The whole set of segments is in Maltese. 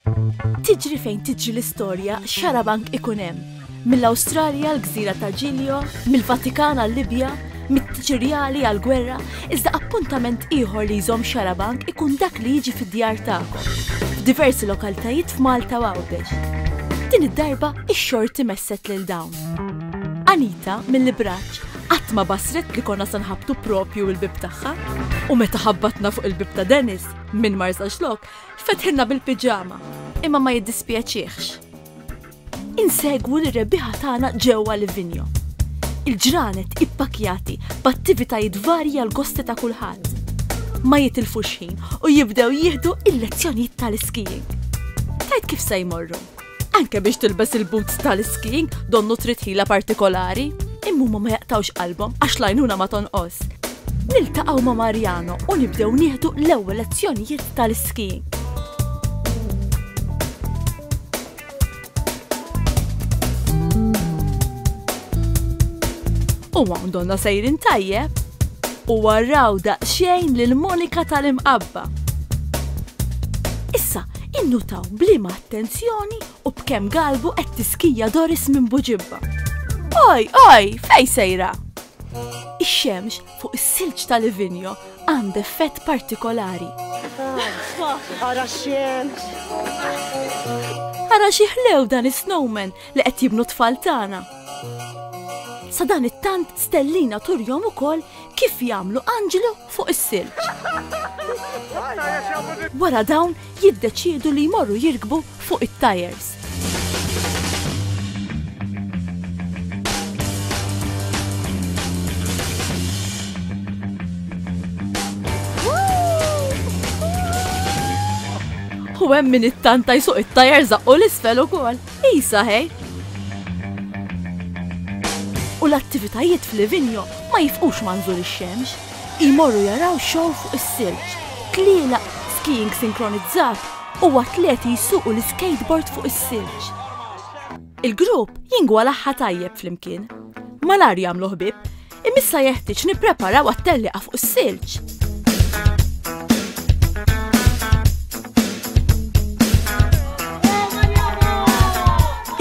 Tiġri fejn tiġri l-istorja, xarabank ikun hemm. Mill-Awstralja għall-gżira ta' Giglio, mill-Vatikan għal-Libja, mit-Tiċirjali għall-gwerra, iżda appuntament ieħor li jżomm xarabank ikun dak li jiġi fid-djar tagħkom, f'diversi lokalitajiet f'Malta u Għawdex. Din id-darba x-xorti messet lil dawn. Anita, mill-Ibraċ, qatt ma basret li konna se nħabbtu proprju l-bieb tagħha. U meta ħabbatna fuq il-bieb ta' Dennis, minn Marsaxlokk, Fetħilna bil-piġama, imma ma jiddispjaċihx. Insegwu lir-rebbieħa tagħna ġewwa Livigno. Il-ġranet ippakkjati b'attivitajiet varji għall-gosti ta' kulħadd. Ma jitilfux ħin u jibdew jieħdu l-lezzjonijiet tal-iskiing. Tgħid kif se jmorru? Anke biex tilbes il-boots tal-skiing donnu trid ħila partikolari. Imma huma ma jaqtawx qalbhom għax lajnuna ma tonqos. Niltaqgħu ma' Mariano u nibdew nieħdu l-ewwel lezzjonijiet tal-skiing. U hawn donna sejrin tajjeb u warraw daqsxejn lil Monika tal-imqabba. Issa, Innutaw b'liema attenzjoni u b'kemm galbu qed tiskija Doris minn buġibba. Oj, oj, fej sejra? Ix-xemx fuq is-silġ ta' Livinjo għand effett partikolari. Ara xemx! Ara xi ħlew dan is-snowman li qed jibnu tfal tagħna. Sa dan it-tant Stellina turjom ukoll Kif jagħmlu anġlu fuq is-silġ. Wara dawn jiddeċiedu li jmorru jirkbu fuq it-tajers. U hemm min it-tanta jsuq it-tajer zaqqu l-isfel ukoll. Qisha hekk! U l-attivitajiet f'Livigno ma jifqux ma' nżul ix-xemx. Imorru jaraw xow fuq is-silġ, tlielaq, skiing sinkronizzat u atleti jsuqu l-iskejtbord fuq is-silġ. Il-grupp jingwalaħħa tajjeb flimkien. Malajr jagħmlu ħbieb. Imissa jeħtieġ nippreparaw għat-telliqa fuq is-silġ.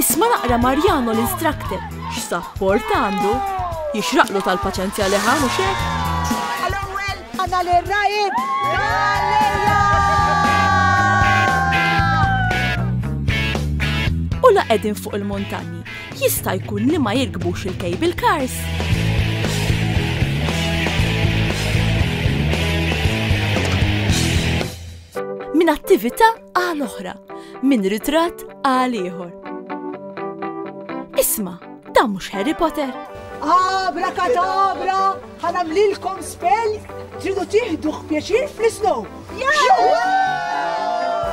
Isma' naqra Marjano l-instructor x'sapport għandu jixraqlu tal-paċenzja li ħamu xejn. Għal-ewwel għandna l-rajib! u la qegħdin fuq il-muntanji Jista' jkun li ma jirkbux il-cable cars. minn attività għal oħra, minn ritratt għal ieħor. Isma, da mhux Harry Potter. Abra kadabra, ħanamlilkom spell, tridu tiħduh pjaċir fl-isnow.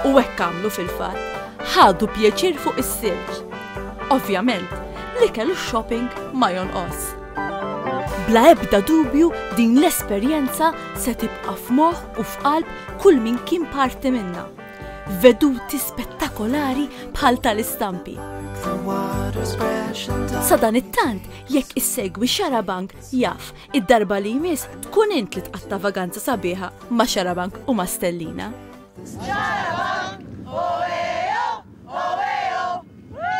U hekk għamlu fil-fatt, ħadu pjaċir fuq is-silġ. Ovvjament, l-ikel u shopping ma jonqos. Bla ebda dubju din l-esperjenza se tibqa' f'moħħ u f'qalb kull min kien parti minnha. Veduti spettakolari bħal tal-istampi. Sadan it-tant, jekk issegwi xarabank Jaf, id-darba li jmiss tkun int li tqatta' vaganza sabiħa ma' Xarabank u ma' Stellina. Xarabank, oeo, oeo, oeo!